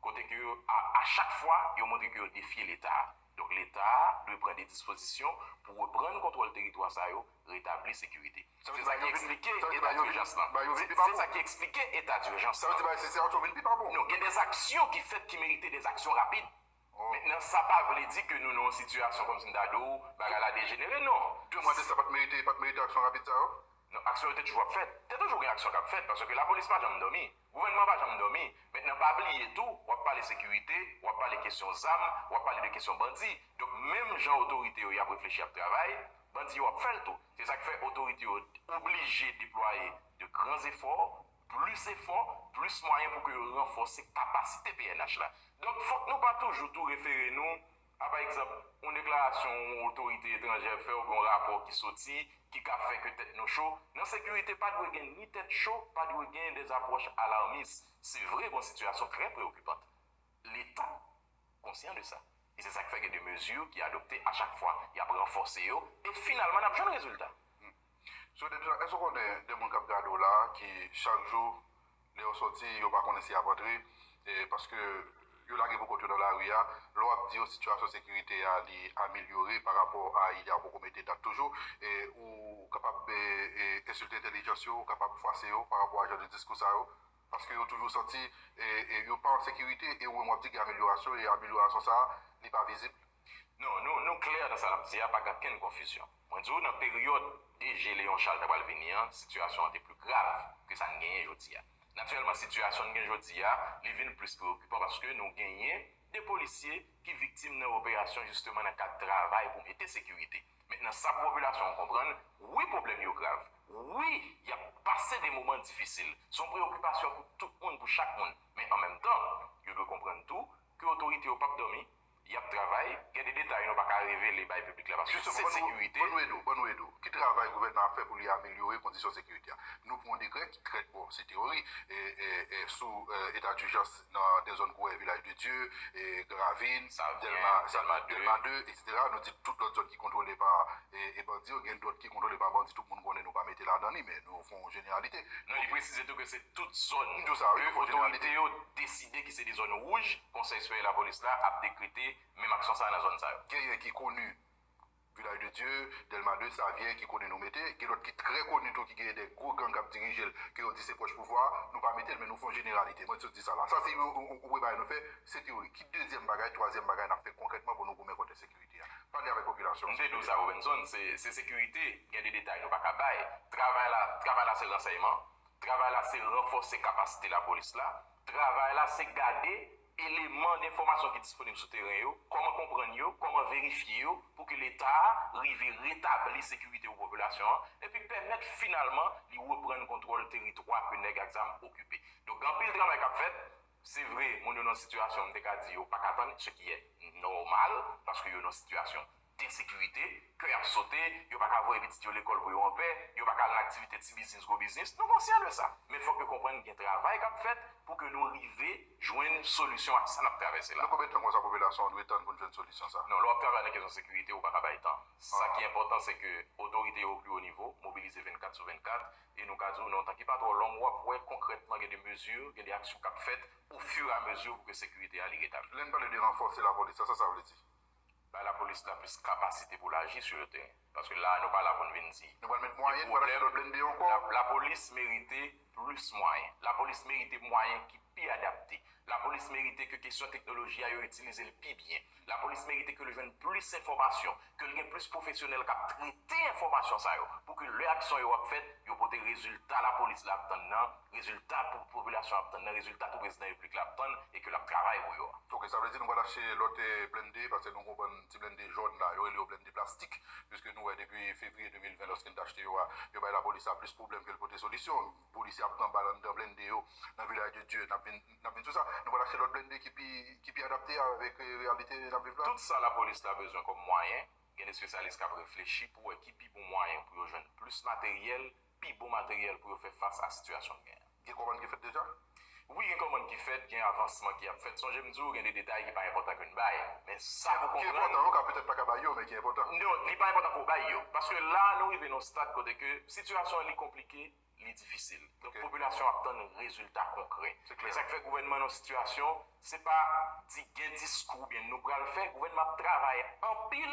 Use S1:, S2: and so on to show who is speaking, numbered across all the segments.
S1: Kote ke yo, a a chak fwa, yo montre ke yo defye Leta a. Donk Leta a dwe pran de dispozisyon pou reprann kontwòl teritwa sa yo, retabli sekirite. Se sa ki eksplike eta durjans lan. Se sa ki eksplike eta durjans lan. Sa vle di bagay sitiyasyon yo vin pi
S2: pa bon. Non, gen de zaksyon
S1: ki fèt ki merite de zaksyon rapid. Mentnan sa pa vle di ke nou nan yon sitiyasyon kòm si m ta di w bagay la dejenere, non. Demann de sa pat merite,
S2: pat merite aksyon rapid sa yo? Non, aksyon yo te toujou
S1: ap fèt. Te toujou gen aksyon k ap fèt paske lapolis pa janm dòmi. Gouvènman pa janm dòmi. Mentnan pa bliye tou, w ap pale sekirite, w ap pale kesyon zam, w ap pale de kesyon bandi. Donk menm jan otorite yo y ap reflechi ap travay, bandi yo ap fè l tou. Se sa k fè otorite yo oblije deplwaye de gran zefò, plis efò, plis mwayen pou ke yo ranfòse kapasite pnh la. Donk fòk nou pa toujou tou refere nou A pa egzanp, yon deklarasyon yon otorite etranjè fè oubyen yon rapò ki soti ki ka fè ke tèt nou cho. Nan sekirite pa dwe gen ni tèt cho, pa dwe gen de apwòch alarmis. Se vre gon sitiyasyon trè preokipant. Leta konsyan de sa. E se sa k fè gen de mezi ki adopte a chak fwa. Y ap ranfòse yo e finalman n ap jwenn rezilta. Sou de pjan
S2: èske ou konnen de moun kap gade w la ki chak jou lè yo sòti yo pa konnen si yap antre paske yo lage pou kont yo nan lari a lè wap di yo sitiyasyon sekirite a li amelyore pa rapò a yè a ou poko mete dat toujou ou kapab ensilte entèlijans yo ou kapab fwase yo pa rapò a jan de diskou sa yo paske yo toujou santi yo pa an sekirite e ou menm wap di gen amelyorasyon e amelyorasyon sa li pa vizib. Non, nou, nou
S1: klè nan sa n'ap di a, pa gen ankenn konfizyon. Mwen di ou nan peryòd DG Léon Charles ta pral vini an, sitiyasyon an te pli grav ke sa n' genyen jodi a. Natirèlman sitiyasyon n' gen jodi a, li vin plis preyokipan paske nou genyen 2 polisye ki viktim nan operasyon jisteman nan kad travay pou mete sekirite. Mentnan sa pou popilasyon an konprann, wi pwoblèm yo grav, wi y'ap pase de moman difisil, son preyokipasyon pou tout moun, pou chak moun, men an menm tan, yo dwe konprann tou ke otorite yo pap dòmi, y ap travay, gen de detay nou pa ka revele bay piblik la paske sekrè sekirite. Ban nou ede w, ban nou ede w. Ki
S2: travay gouvènman ap fè pou li amelyore kondisyon sekirite a? Nou pran yon dekrè ki krèk bon, se teyori, sou eta dijans nan de zòn kou Village de Dieu, Grand Ravine, Delma 2, eksetera. Nou di tout lòt zòn ki kontwole pa bandi yo, gen dòt ki kontwole pa bandi tout moun konnen nou pa mete ladan li men nou fè yon jeneralite. Non li presize tou ke
S1: se tout zòn ke otorite
S2: yo
S1: deside ki se de zòn wouj. Konsèy Sipèryè Lapolis la ap dekrete menm aksyon sa a nan zòn sa yo. Genyen ki koni
S2: Vilaj de Dye, Dèlma 2, Savyen ki koni nou mete. Gen lòt ki trè koni tou ki genyen de gwo gang k ap dirije l ke yo di se pwòch pouvwa a. Nou pa mete l men nou fè yon jeneralite. Mwen sot di sa la. Sa se yon premye bagay nou fè. Se teyori. Ki dezyèm bagay, twazyèm bagay n ap fè konkrètman pou nou goumen kont ensekirite a? Pale avèk popilasyon an. M te di w sa Robenson,
S1: se sekirite. Gen de detay nou pa ka bay. Travay la, travay la se ransèyman. Travay la se ranfòse kapasite lapolis la. Travay la se gade eleman denfòmasyon ki disponib sou teren yo, kòman konprann yo, kòman verifye yo pou ke Leta a rive retabli sekirite pou popilasyon an, epi pèmèt finalman li reprann kontwòl teritwa ke nèg ak zam okipe. Donk gen anpil travay k ap fèt. Se vre, moun yo nan sitiyasyon m te ka di yo pa ka tann, se ki è nòmal, paske yo nan sitiyasyon gen sekirite, kè y ap sote, yo pa ka voye pitit yo lekòl pou yo an pè, yo pa ka al nan aktivite ti biznis, gwo biznis, nou konsyan de sa. Men fòk yo konprann gen travay k ap fèt pou ke nou rive jwenn solisyon ak sa n ap travèse la. Nan konbyen tan konsa popilasyon an
S2: dwe tann pou n jwenn solisyon sa? Non, lè w ap travay nan kesyon sekirite,
S1: ou pa ka bay tan. Sa ki enpòtan se ke otorite yo o pli wo nivo mobilize 24 sou 24 e nou ka di w nan yon tan ki pa twò long w ap wè konkrètman gen de mezi, gen de aksyon k ap fèt ofiramezi pou ke sekirite a li retabli. Lè n pale de ranfòse
S2: lapolis la, sa sa vle di? Bay lapolis
S1: la plis kapasite pou l aji sou yo teren. Paske la a nou pa la pou n vin di. Nou pral met mwayen, nou pral
S2: achte lòt blende ankò. Lapolis merite
S1: plis mwayen. Lapolis merite mwayen ki pi adapte. Lapolis merite ke kesyon teknoloji a yo itilize l pi byen. Lapolis merite ke l jwenn plis enfòmasyon. Ke l gen plis pwofesyonèl k ap trete enfòmasyon sa yo. Pou ke lè aksyon yo ap fèt, yo pote rezilta lapolis la ap tann nan. Rezilta pou popilasyon ap tann nan, rezilta pou prezidan repiblik la ap tann e ke lap travay pou yo a. Ok, sa vle di nou pral achte
S2: lòt blennde paske nou gen yon bann ti blennde jòn la, yo rele yo blennde plastik, piske nou wè depi fevriye 2020 lòske n t achte yo a, yo bay lapolis la plis pwoblèm ke l pote solisyon, polisye ap pran bal anndan blennde yo nan Vilaj de Dye, n ap vin n ap vin sou sa, nou pral achte lòt blennde ki pi ki pi adapte avèk reyalite n ap viv la. Tout sa lapolis
S1: la bezwen kòm mwayen, gen de spesyalis k ap reflechi pou wè ki pi bon mwayen pou yo jwenn plis materyèl pi bon materyèl pou yo fè fas a sitiyasyon n gen an. Gen kòmand ki fèt deja?
S2: Wi gen kòmand
S1: ki fèt, gen avansman ki ap fèt. Sonje m di w gen de detay ki pa enpòtan ke n bay. Men sa pou w konprann. Ki enpòtan yo ka petèt pa ka
S2: bay yo men ki enpòtan. Non, li pa enpòtan
S1: pou w bay yo. Paske la a nou rive nan yon stad kote ke sitiyasyon an li konplike, li difisil. Donk popilasyon ap tann rezilta konkrè. Se klè. E sa k fè gouvènman nan sitiyasyon, se pa di gen diskou oubyen nou pral fè, gouvènman ap travay anpil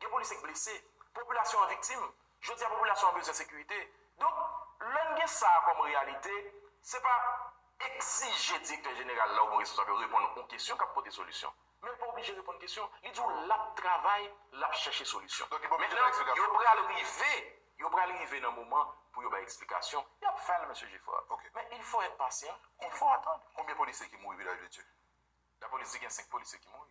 S1: Gen polisye k blese, popilasyon an viktim, jodi a popilasyon an bezwen sekirite. Donk, lè n gen sa a kòm reyalite, se pa egzije direktè jeneral la oubyen responsab yo reponn yon kesyon k ap pote solisyon. Men l pa oblije reponn kesyon. Li di w l ap travay, l ap chèche solisyon. Mentnan, yo
S2: pral
S1: rive, yo pral rive nan moman pou yo bay eksplikasyon. Y ap fè l, Mesye Geffrard. Men il faut être
S2: patient,
S1: il faut attendre. Konbyen polisye ki mouri
S2: Vilaj de Dye? Lapolis di gen
S1: 5 polisye ki mouri.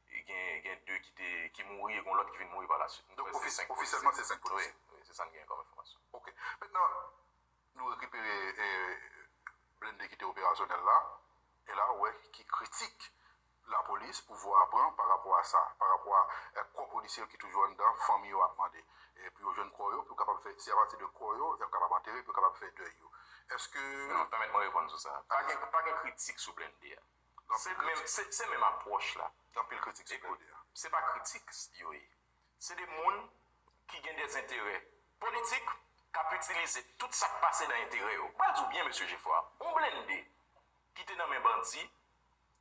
S1: Gen gen 2 ki te ki mouri e gon lòt ki vin mouri palaswit. M kwè se 5 polisye. Ofisyèlman
S2: se 5 polisye. Wi, wi se sa n genyen kòm enfòmasyon.
S1: Ok. Mentnan,
S2: nou rekipere blende ki te operasyonèl la, e la ou wè ki kritik lapolis, pouvwa a pran pa rapò a sa, pa rapò a kò polisye yo ki toujou anndan, fanmi yo ap mande pou yo jwenn kò yo, pou yo kapab fè, se apati de kò yo y ap kapab antere, pou yo kapab fè dèy yo. Èske. Non, pèmèt mwen reponn sou
S1: sa. Pa gen kritik sou blende a. Se menm apwòch la gen anpil kritik sou li.
S2: Se pa kritik
S1: yo ye. Se 2 moun ki gen de enterè politik k ap itilize tout sa k pase nan enterè yo. M pral di w byen mesye Jefwa, yon blennde ki te nan men bandi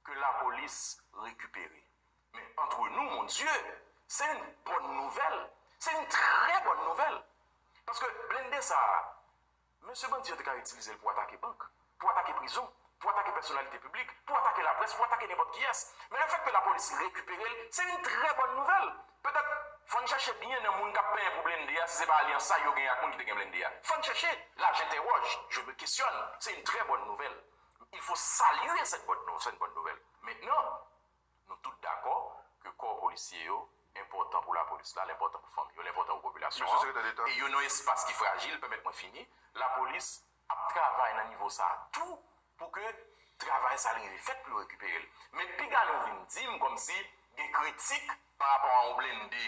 S1: ke lapolis rekipere. Men antre nou mon Dye, se yon bòn nouvèl, se yon trè bòn nouvèl. Paske blennde sa a, Mesye bandi yo te ka itilize l pou atake bank, pou atake prizon, pou atake pèsonalite piblik, pou atake laprès, pou atake nenpòt kiyès. Men lefèt ke lapolis rekipere l, se yon trè bòn nouvèl. Petèt, fò n chèche byen nan moun k ap penyen pou blende a si se pa alyans sa yo genyen ak moun ki te gen blende a. Fò n chèche! La j'interroge, je me questionne, se yon trè bòn nouvèl. Il faut saluer cette bonne nouvelle. Maintenant. Nou tout dakò ke kò polisye yo enpòtan pou lapolis la, l enpòtan pou fanmi yo, l enpòtan pou popilasyon an, e yo nan yon espas ki frajil, pèmèt mwen fini, lapolis ap travay nan nivo sa a tou pou ke travay sa a rive fèt pou yo rekipere l. Men piga nou vin di m kòmsi gen kritik parapò a yon blende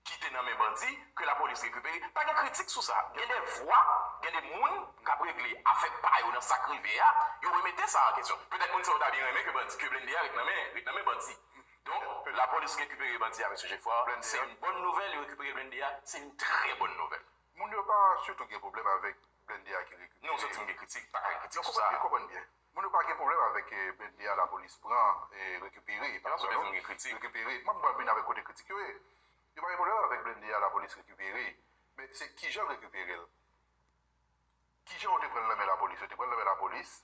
S1: ki te nan men bandi ke lapolis rekipere pa gen kritik sou sa gen de vwa gen de moun kap regle afè pa yo nan sak rive a yo remete sa an kesyon petèt moun sa yo ta byen renmen ke bandi ke blende a ret nan men ret nan men bandi donk lapolis rekipere bandi a mesye Geffrard blende a se yon bòn nouvèl yo rekipere blende a se yon trè bòn nouvèl. Moun yo pa sitou
S2: gen pwoblèm avèk blende a ki rekipere. Non santim gen kritik, pa
S1: ka gen kritik sou sa. Yo konprann byen. Moun yo
S2: pa gen problem avek blende a la police pran e rekipere
S1: pa gen problem non rekipere map vin avek
S2: kote kritik yo ye yo pa gen problem avek blende a la police rekipere men se kijanl rekiperel kijan yo te pranl nan men la police yo te pranl nan men la police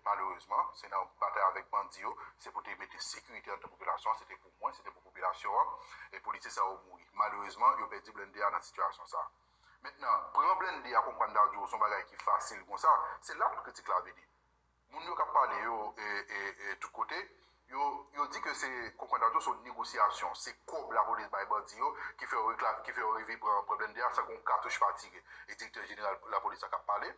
S2: malerezman se nan batay avek bandi yo se pou te mete sekirite antan popilasyon an se te pou mwen se te pou popilasyon an e police sa yo mouri malerezman yo pedi blende a nan sitiyasyon sa. Mentnan, pran blende a konprann ta di w son bagay ki fasil konsa, se la tout kritik la vini. Moun yo kap pale yo e tout kote, yo di ke se konprann ta di w son negosyasyon, se kòb lapolis bay bandi yo ki fè yo rive pran blende a san ke yon katouch pa tire. E direktè jeneral lapolis la kap pale.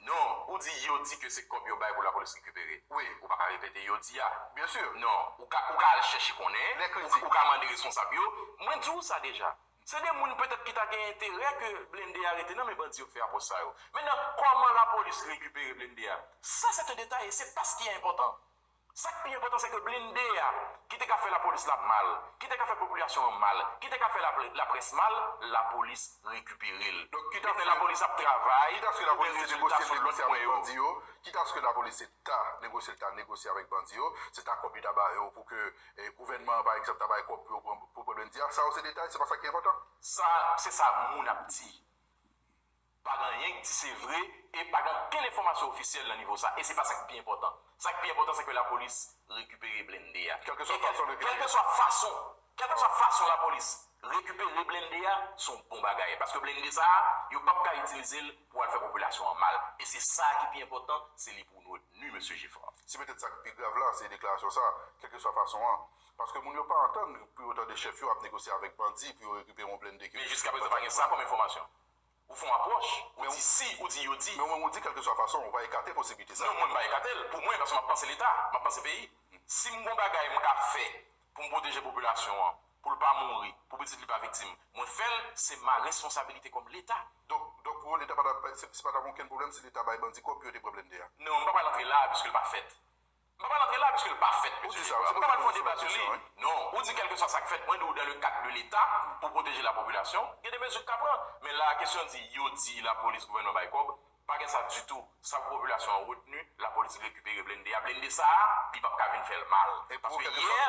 S2: Non, ou di yo di
S1: ke se kòb yo bay pou la polis rekipere. Wi, ou pa ka repete
S2: yo di
S1: a. Byen sur. Non, ou
S2: ka ou ka al
S1: chèche konnen, ou ka mande responsab yo. Mwen di ou sa deja. Se de moun petèt ki ta gen enterè ke blende a rete nan men bandi yo k fè apwòch sa yo. Mentnan, kòman la polis rekipere blende a? Sa sè te detay e se pas ki a enpòtan. Sa k pi enpòtan se ke blinde a, ki te ka fè lapolis la mal, ki te ka fè popilasyon an mal, ki te ka fè laprès mal, lapolis rekipere l. Donk, kit aske
S2: lapolis ap travay,
S1: kit aske lapolis
S2: te negosye l negosye avèk bandi yo, kit aske lapolis te ta negosye l ta negosye avèk bandi yo, se ta kòb li ta ba yo pou ke gouvènman an, pa egzanp, ta bay kòb pou yo pran pou blndi a. Sa yo se detay, se pa sa ki enpòtan. Sa, se sa
S1: moun ap di. Pa gen anyen k di se vre e pa gen okenn enfòmasyon ofisyèl nan nivo sa e se pa sa k pi enpòtan. Sa k pi enpòtan se ke lapolis rekipere blende a. Kèlkeswa fason yo rekipere l. Kèlkeswa fason, kèlkeswa fason lapolis rekipere blende a, se yon bon bagay. Paske blende sa a, yo p ap ka itilize l pou al fè popilasyon an mal. E se sa a ki pi enpòtan, se li pou nou retni, Mesye Geffrard. Se petèt sa k pi grav
S2: la, se deklarasyon sa a, kèlkeswa fason an. Paske moun yo pa antann pou yo tande chèf yo ap negosye avèk bandi pou yo rekipere yon blende ke. Men jiskaprezan pa gen sa
S1: kòm enfòmasyon. Ou fon apwòch, ou di si, ou di yo di. Men ou menm ou di kèlkeswa fason,
S2: ou pa ekate posibilite sa a. Non, mwen m pa ekate l. Pou
S1: mwen, paske m ap panse Leta, m ap panse peyi. Si m gon bagay m ka fè pou m pwoteje popilasyon an, pou l pa mouri, pou pitit li pa viktim, mwen fè l, se ma responsabilite kòm Leta. Donk, donk pou ou Leta
S2: pa ta, se pa ta gen okenn pwoblèm si Leta bay bandi kòb pou yo te pran blennde a? Non, m pa pral antre la a
S1: piske l pa fèt. M pa pral antre la piske l pa fèt, mesye Jefferson. M pa pral fè yon
S2: deba sou li.
S1: Non. Ou di kèlkeswa sa k fèt, mwen di w dan le kad de Leta, pou pwoteje lapopilasyon, gen de mezi k ka pran. Men la a, kesyon di yo di lapolis gouvènman bay kòb, pa gen sa ditou. Sa pou popilasyon an retni, lapolis rekipere blende a. Blende sa a, li pap ka vin fè l mal. Paske yè,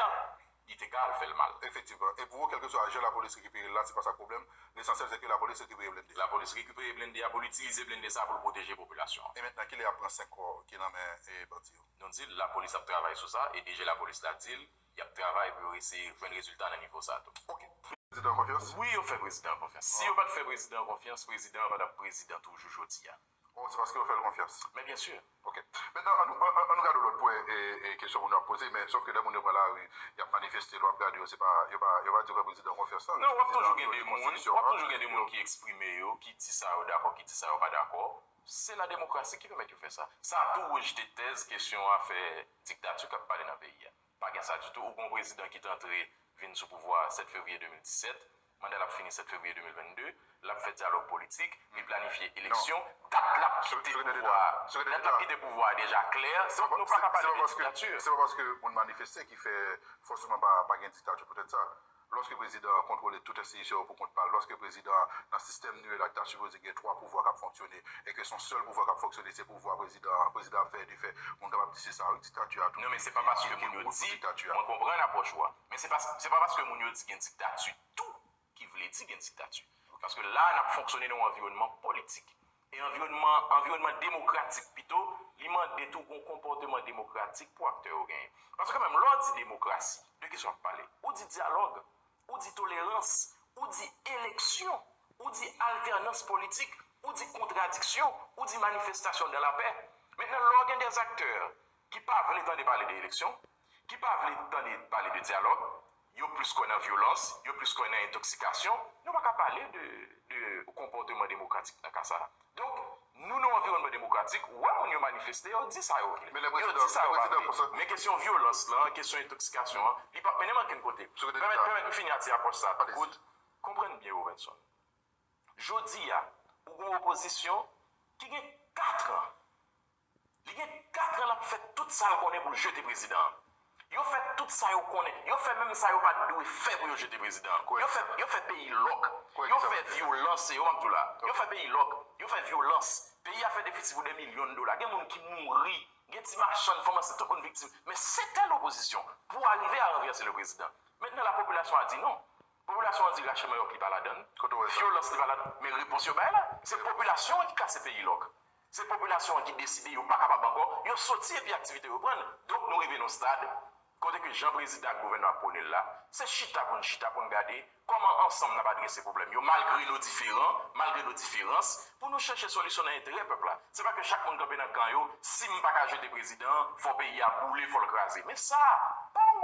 S1: li te ka al fèl mal. Efektivman. E pou ou kelkeswa
S2: jan lapolis rekiperel la se pa sa k pwoblèm, lesansyèl se ke lapolis rekipere blende a. Lapolis rekipere blende
S1: a pou l itilize blende sa pou l pwoteje popilasyon an. E mentnan kilè yap pran 5
S2: kò ki nan men bandi yo? Nou di l lapolis ap
S1: travay sou sa e DG lapolis la di l yap travay pou yo eseye jwenn rezilta nan nivo sa tou. Ok. Prezidan an
S2: konfyans? Wi yo fè prezidan an konfyans.
S1: Si yo pat fè prezidan an konfyans, prezidan an pa tap prezidan toujou jodi a. Oh, se paske yo fè l
S2: konfyans. Men byen sûr. Ok.
S1: Mentnan, an nou,
S2: an nou gade yon lòt pwen e kesyon moun yo ap poze, men sofke lè moun yo pran lari, y ap manifeste, lè w ap gade yo, se pa, yo pa, yo pa di yo fè prezidan konfyans nan. Non, w ap toujou gen de
S1: moun, w ap toujou gen de moun ki eksprime yo, ki di sa yo dakò, ki di sa yo pa dakò. Se lademokrasi ki pèmèt yo fè sa. Sa tou rejte tèz kesyon afè diktati k ap pale nan peyi a. Pa gen sa ditou. Ou gen yon prezidan ki t antre, vin sou pouvwa a 7 fevriye 2017, Manda l ap fini 7 fevriye 2022, l ap fè dyalòg politik, li planifye eleksyon, dat l ap kite pouvwa a, dat l ap kite pouvwa a deja klè, se nou pa ka pale de
S2: diktati. Se pa paske moun manifeste ki fè fòseman pa gen diktati poutèt sa. Lòske prezidan an kontwole tout enstitisyon yo pou kont pa l, lòske prezidan an nan sistèm nou ye la ki ta sipoze gen 3 pouvwa k ap fonksyone e ke se yon sèl pouvwa k ap fonksyone se pouvwa prezidan an, prezidan ap fè e defè, moun kapab di se sa wi diktati a tou. Non men se pa paske
S1: moun yo di, mwen konprann apwòch ou a. Men se pa se pa paske moun yo di gen diktati tou ki vle di gen diktati. Paske la a n ap fonksyone nan yon anviwònman politik. E anviwònman anviwònman demokratik pito, li mande tou gon konpòteman demokratik pou aktè yo genyen. Paske kanmenm lè w di demokrasi, de ki sa w ap pale? Ou di dyalòg, ou di tolerans, ou di eleksyon, ou di altènans politik, ou di kontradiksyon, ou di manifestasyon dan lapè. Mentnan lè w gen dèzaktè ki pa vle tande pale de eleksyon, ki pa vle tande pale de dyalòg, yo plis kwè nan vyolans, yo plis kwè nan entoksikasyon, nou pa ka pale de de konpòteman demokratik nan ka sa. Donk, nou nan yon anviwònman demokratik, ou wè moun yo manifeste, yo di sa yo vle, yo di sa yo
S2: pa vle, men kesyon vyolans
S1: lan, kesyon entoksikasyon an, li pap mennen m ankenn kote. Pèmèt pèmèt m fini ak ti apwòch sa a tou kout. Konprann byen Robinson, jodi a, ou gen yon opozisyon ki gen katran. Li gen 4 ans lap fè tout sal konnen poul jete prezidan an. Yo fè tout sa yo konnen, yo fè menm sa yo pat dwe fè pou yo jete prezidan an. Yo fè yo fè peyi lòk, yo fè vyolans se yo map diw la. Yo fè peyi lòk, yo fè vyolans, peyi a fè defisi pou dè milyon dola, gen moun ki mouri, gen ti machann, fanm ansent, tout moun viktim. Men sete lopozisyon pou arive a ranvèse le prezidan. Mentnan la popilasyon a di non. Popilasyon an di rache manyòk li pa ladann, vyolans li pa ladann, men repons yo bay la, se popilasyon an ki kase peyi lòk. Se popilasyon an ki deside yo pa kapab ankò, yo soti epi aktivite reprann. Donk nou rive nan stad kote ke jan prezidan ak gouvènman ap pwone l la, se chita pou n chita pou n gade kòman ansanm n ap adrese pwoblèm yo malgre nou diferan, malgre nou diferans pou nou chèche solisyon nan enterè pèp la. Se pa ke chak moun kanpe nan kan yo, si m pa ka jete prezidan an, fò peyi a boule, fò l kraze. Men sa pa yon.